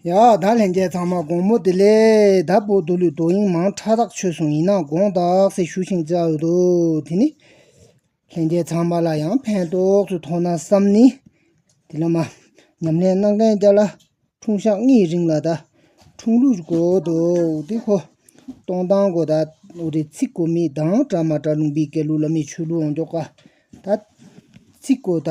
ཡང་དག་ལྷན་སྐྱེས་ཚང་མ་དགོང་མོ་དེ་ལས་ད་བོད་དུ་ལུས་རྡོ་ཡིག་མང་ཕྲ་རགས་ཆོད་སོང་ཡིན་ན་དགོངས་དག་སེ་ཞུ་ཞིང་བཅའ་འོས་འདུག་དེ་ནི་ལྷན་སྐྱེས་ཚང་མ་ལ་ཡང་ཕན་ཐོགས་སུ་མཐོང་ན་བསམ་ནི། དེ་ལ་མ་ཉམས་ལེན་གནང་མཁན་བརྒྱ་ལ་འཁྲུངས་ཞག་གཉིས་རིང་ལ་ད་འཁྲུངས་ལུས་དགོས་འདུག་དེ་ཁོ་སྟོང་དང་དགོས་ད་འོ་རེ་ཚིག་གོ་མི་དང་བཀྲ་མ་བཀྲ་ལུང་པའི་སྐལ་ལུགས་ལ་མི་ཆོས་ལུགས་འོང་འགྱོགས་ཀ་ད་ཚིག་གོ་ད།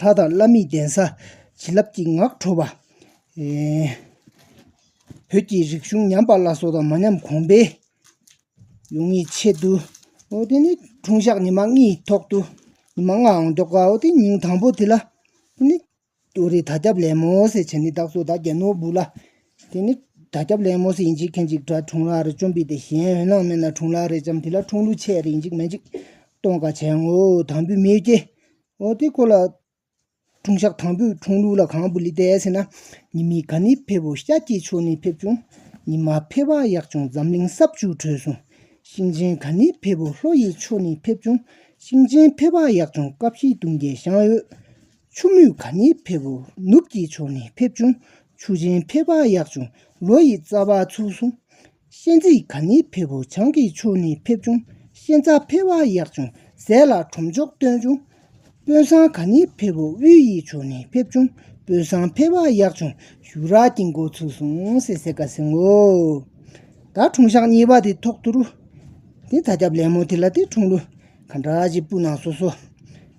ལྷ་དང་བླ་མའི་གདན་ས། བྱིན་རླབས་ཀྱི་ངག་འཕྲོ་བ། བོད་ཀྱི་རིག་གཞུང་ཉམས་པ་བླ་སྲོག་དང་མ་ཉམས་གོང་འཕེལ་ཡོང་བའི་ཆེད་དུ། དེ་ནི་འཁྲུངས་ཞག་ཉི་མ་ལྔའི་ཐོག་ཏུ། ཉི་མ་ལྔའང་མགྱོགས་ཀ་འོ་དེ་ཉིན་དང་པོ་དེ་ལ། དེ་ནི་རེ་ད་སྐྱབས་ལེགས་མོ་སེ་བྱས་ནས་བདག་སོགས་དག་རྒྱལ་ནོར་བུ་ལ། དེ་ནི་དར་སྐྱབས་ལན་མོ་སི་ཡིན་གཅིག་ཁེན་གཅིག་གྲྭ་འཁྲུངས་ལག་རེད་བཅོམ་པི་ཏེ་གཞན་འོད་སྣང་མེད་ན་འཁྲུངས་ལག་རེད་བཅོམ་དེ་ལ་འཁྲུངས་ལུགས་ཆད་རེད་འཇིགས་མེད་འཇིགས་གཏོང་དགའ་བྱས་ངོ་དང་པོའི་མི་སྐྱེ་འོ་དེ་ཁོ་ལ་འཁྲུངས་ཞག་དང་པོའི་འཁྲུངས་ལུགས་ལ་གང་བུ་ལི་ཏའི་ཟེར་ན་ཉི་མི་ག་ནི་ཕེབས་བོ་ཤ་སྐྱེས་ཆོས་ནི་ཕེབས་བྱུང་ཉི་མ་ཕེབས་བ་ཡག་བྱུང་འཛམ་གླིང་སྲབ་ཆུ་དྲོས་སོང་ཤིང་ཆེན་ག་ནི་ཕེབས་བོ་ལྷོ་ཡི་ཆོས་ནི་ཕེབས་བྱུང་ཤིང་ཆེན་ཕེབས་བ་ཡག་བྱུང་ཀ་བཞི་དུང་རྒྱལ་ཞང་འོད། ཆུ་མུད་ག་ནི་ཕེབས་བོ་ནུབ་ཀྱི་ཕྱོགས་ནི་ཕེབས་བྱུང་ཆུ་ཆེན་ཕེབས་པ་ཡག་བྱུང་ལོ་ཡི་རྩ་བ་ཚུགས་སོང་གཤེན་རྩིས་ག་ནི་ཕེབས་བོ་བྱང་གི་ཕྱོགས་ནི་ཕེབས་བྱུང་གཤེན་རྩ་ཕེབས་བ་ཡག་བྱུང་ཟས་ལ་གྲོམ་མཆོག་བཏོན་བྱུང་དཔོན་བཟང་ག་ནི་ཕེབས་བོ་དབུས་ཡི་ཕྱོགས་ནི་ཕེབས་བྱུང་དཔོན་བཟང་ཕེབས་བ་ཡག་བྱུང་ཞུ་རག་གི་མགོ་ཚུགས་སོང་ཟས་ཟས་ག་ཟིང་བོ། ད་དྲུང་ཞག་གཉིས་པ་དེ་ཐོག་ཐུ་རུ། དེ་ད་སྐྱབས་ལེགས་མོ་དེ་ལ་དེ་དྲུང་ལུ། ག་འདྲ་ཞིག་སྤུ་ནག་སོ་སོ།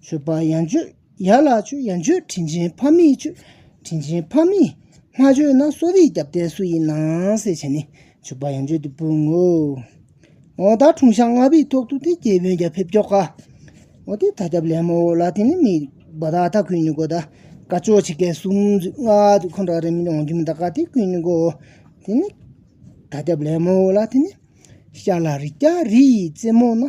མཆོད་པ་ཡང་མཆོད་ཡ་ལ་མཆོད་ཡང་མཆོད་དྲིན་ཆེན་ཕ་མིས་མཆོད་དྲིན་ཆེན་ཕ་མིས་མ་མཆོད་ན་གསོ་རིག་རྒྱབ་རྟེན་སུ་ཡིན་ནང་ཟེར་བྱས་ནས་མཆོད་པ་ཡང་མཆོད་དེ་སྤུན་ངོ། ཨོ་ད་དྲུང་ཤག་ལྔ་པའི་ཐོག་ཏུ་དེ་རྒྱལ་དཔོན་རྒྱ་ཕེབས་ཀྱོག་ག། ཨོ་དེ་ད་རྒྱབ་ལེན་མོ་ལ་དེ་ནི་མི་བ་ད་ད་ཁུན་ནི་གོ་ད་དཀའ་ཅོག་ཆི་ཀའི་སུམ་ཅུ་ལྔ་དུ་ཁོང་འདྲ་རེ་མི་འོང་རྒྱུ་མི་ད་ག་དེ་ཁུན་ནི་གོ། དེ་ནི་ད་རྒྱབ་ལེན་མོ་ལ་དེ་ནི་ཤ་ལ་རི་སྐྱ་རི་ཡི་རྩེ་མོ་ན།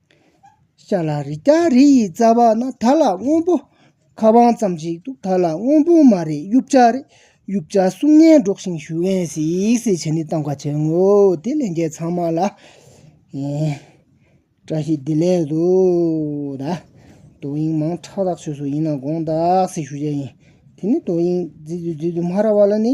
ཤཱ་ལ་རི་སྐྱ་རི་ཡི་རྩ་བ་ན་ད་ལ་སྔོན་པོ་ཁ་བང་ཙམ་ཞིག་འདུག་ད་ལ་སྔོན་པོ་མ་རེད་དབྱུག་བྱ་རེད་དབྱུག་བྱ་གསུང་སྙན་སྒྲོག་བཞིན་ཞུ་འོས་ཟིག་ཟིག་བྱས་ནས་བཏང་བ་བྱས་ངོ་དེ་ལས་འགལ་ཚང་མ་ལ་བཀྲ་ཤིས་བདེ་ལེགས་དུ་ད་དོ་དབྱིངས་མང་ཁྲག་དག་ཆོས་སུ་ཡིན་ན་དགོངས་དག་ཟིག་ཞུ་བྱས་ཡིན་དེ་ནས་དོ་དབྱིངས་མཛེས་སྡུག་མཛེས་སྡུག་སྨྲ་ར་བ་ལ་ནི།